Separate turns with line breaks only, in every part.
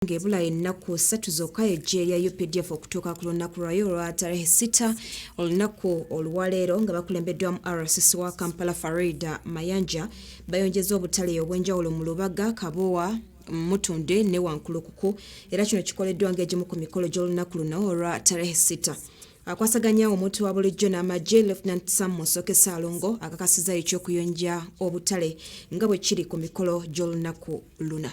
nga ebula ennaku ssatu zokka eggye lya updf okutuuka ku lunaku lwayo olwa tarehe sita olunaku oluwaleero nga bakulembeddwamu rcc wa kampala farida mayanja bayongeza obutale obw'enjawulo mu lubaga kabowa mutunde ne wankulukuku era kino kikoleddwa ng'egimu ku mikolo gy'olunaku luno olwa tarehe sita akwasaganya omuntu wa bulijjo n'amagye lieutenant sam musoke saalongo akakasiza eky'okuyonja obutale nga bwe kiri ku mikolo gy'olunaku luna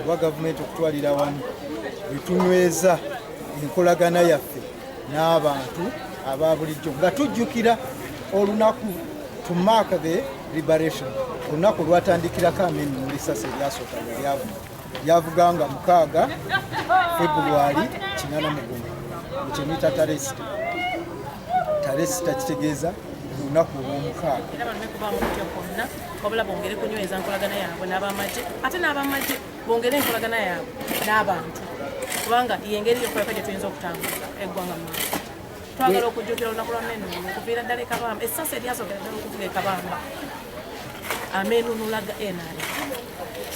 oba gavumenti okutwalira wamu wetunyweza enkolagana yaffe n'abantu aba bulijjo nga tujjukira olunaku to mark the liberation olunaku olwatandikirako ameni mu lisasi eryasooka lwelyavuga lyavuga nga mukaaga februari kinana mugumu ekyemitataresi talesi takitegeeza olunaku olwomukaaga era bano bekuba mukutya
kwonna wabula bongere kunyweza nkolagana yaabwe n'abamagye ate n'abamagye bongere enkolagana yaabwe n'abantu kubanga yengeri yokulaka gye tuyinza okutambula eggwanga mu twagala okujjukira olunaku lwa menu okuviira ddala ekabamba essasi eryasookera ddala okuvuga ekabamba ameenunula ga nrm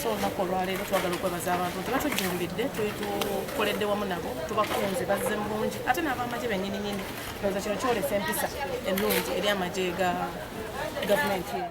so olunaku olwaleero twagala okwebaza abantu nti batujjumbidde tukoledde wamu nabo tubakunze bazze mu bungi ate n'abamagye bennyini nyini ndowooza kino kyolesa empisa ennungi eri amagye ga gavumenti eno